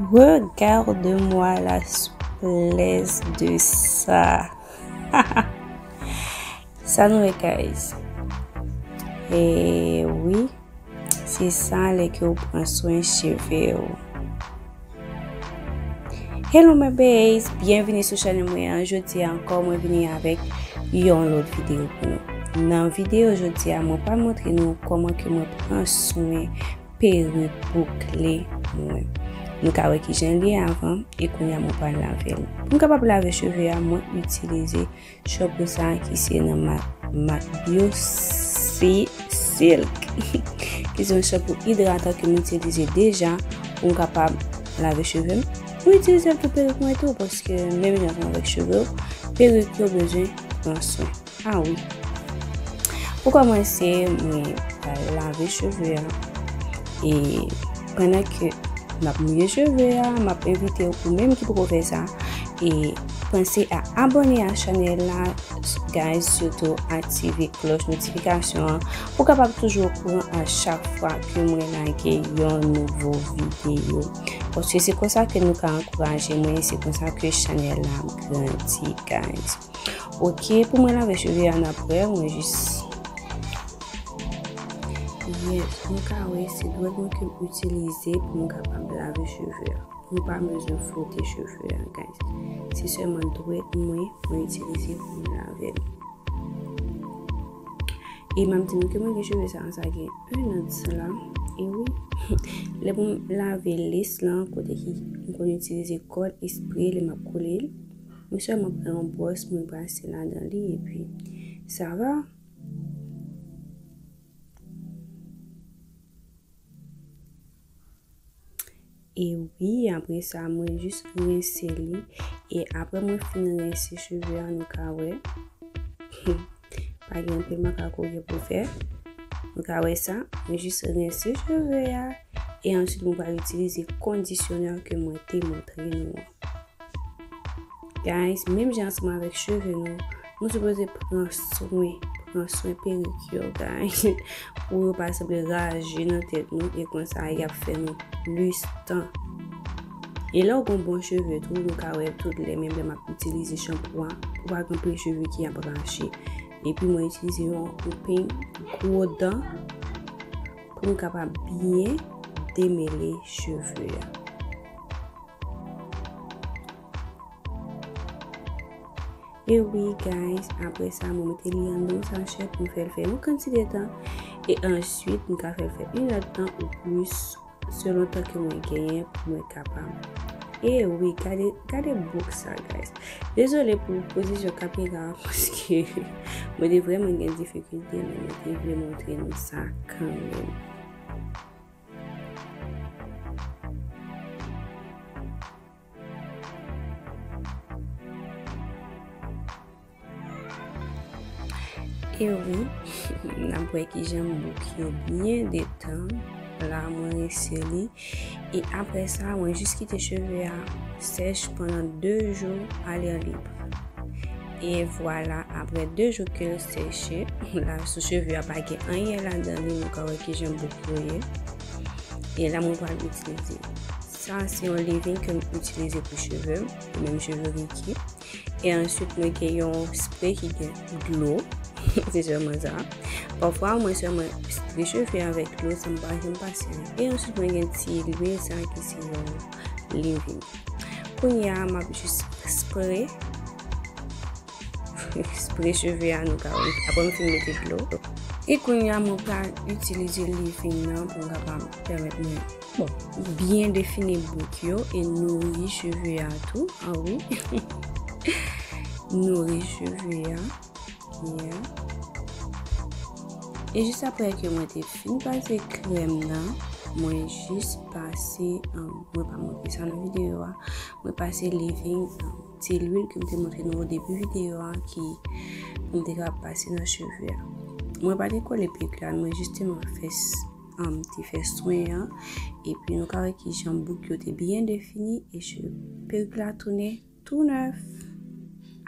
Regarde moi la souplesse de sa. Sa nou e guys. E oui, se sa le ke ou pran soin cheve ou. Hello my babes, bienvenue sou chanel mwen an. Jodi ankò mwen vini avèk yon lòt video pou nou. Nan video jodi a mwen pa montre nou koman ke mwen pran soin perik boukle mwen. Nou ka wè kijan li ye avan e kounya mwen pral lave l. Pou m kapab lave cheve a mwen itilize shampoing sa ki se nan mak mak bio si silk. Ki se yon shampoing idratan ke m itilize deja pou m kapab lave cheve m. Mwen itilize l pou perik mwen tou paske menm jan avèk cheve w perik yo bezwen pran swen. Ah oui. Pou kòmanse, mwen pral lave cheve a. E pandan ke map mouye cheve a, map envite ou pou menm ki poko fè sa. E panse a abone a chanel la guys, sitou aktive kloch notifikasyon an pou kapab toujou okouran a chak fwa ke mwen lage yon nouvo videyo. Paske se konsa ke nou ka ankouraje mwen, se konsa ke chanel la ap grandi guys. Ok pou mwen lave cheve an apre mwen jis Yes mwen ka wè se dwèt mwen ke m itilize pou m kapab lave cheve an Mwen pa bezwen fwote cheve an guys Se sèlman dwèt mwen mwen itilize pou m lave l E map di nou ke mwen gen cheve sa sa gen 1 an de sela E wi Lè pou m lave lace lan kote ki m konn itilize kòd espre lè map kole l Mwen sèlman pran yon bwòs mwen brase ladan li epi sa va. E wi, apre sa mwen jis rense li. E apre mwen fin rense cheve a nou ka wè. Pa gen anpil makako gen pou fè. Nou ka wè sa. Mwen jis rense cheve a. E ansyit mwen pral itilize kondisyonè ke mwen te montre nou an. Guys menm jan ansanm avèk cheve nou, nou sipoze pran swen, pran swen perik yo guys pou yo pa sanble raje nan tèt nou e konsa yap fè nou plis tan. E lèw gon bon cheve tou nou ka wèl tout lè menm lè map itilize chanpou a ou pa gen pil cheve ki ap raje epi mwen itilize yon peny gwo dan poum kapab byen demele cheve a. E wi guys, apre sa mwen mete li an don sachè pou m fè l fè yon kantite tan e answit m ka fè l fè yon lòt tan ou plis selon tan ke mwen genyen pou mwen kapab. E wi, gade, gade bouk sa guys. Dezole pou pozisyon kamera an paske mwen te vrèman gen difikilte men mwen te vle montre nou sa kanmenm. E wi, n ap wè ki jan bouk yo byen detan. La mwen rese li. E apre sa, mwen jis kite cheve a sèch pandan 2 jou a lè lib. E vwala apre 2 jou kel seche, la sou cheve a pa gen anyen ladan li nou ka wè kijan bout yo ye. E la mwen pral itilize yo. Sa se yon levin ke m itilize pou cheve m, pou menm cheve Ricky. E answit mwen gen yon spre ki gen dlo, se sèlman sa. Pafwa mwen sèlman recheve avèk dlo san m pa janm pase. E answit mwen gen ti lwil sa ki se yon. li ri. Kounye a m ap jis spre spre cheve a nou ka wè aprè m fin mete dlo. E kounye a mwen pral itilize leave-in nan pou m kapab pèmèt mwen bon byen define bout yo e nouri cheve a tou. An wi nouri cheve a. Yeah. E jis apre ke mwen te fin pase krèm nan, mwen jis pase, um, mwen pa montre sa nan videyo a, mwen pase leave-in, um, ti lwil ke m te montre nou o debi videyo a ki pou m te ka pase nan cheve a. Mwen pa te kole pik la, mwen jisteman fè, um, te fè swen an, epi nou ka wè kijan bouk yo te byen defini e cheve, perik la tounen. Tou nèf!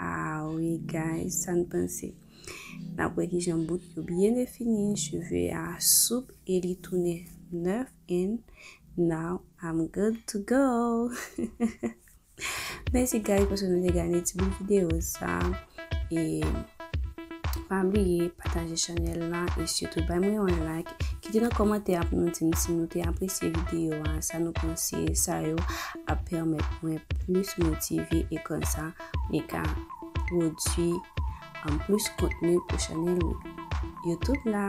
Ah wi guys sa n panse? Nap wè kijan bout yo byen defini, cheve a soup e li tounen nèf and now I'm good to go! Mèsi guys paske nou te gade ti bout video sa. e pa bliye pataje chanèl la e sitou bay mwen yon like kite nan kòmantè a pou nou di m si nou te apresye videyo a sa nou panse sa yo ap pèmèt mwen plis motive e konsa mwen ka pwodui an plis kontni pou chanèl youtube la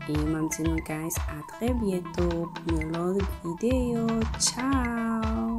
e m ap di nou guys a trè byento pou yon lòt videyo tchao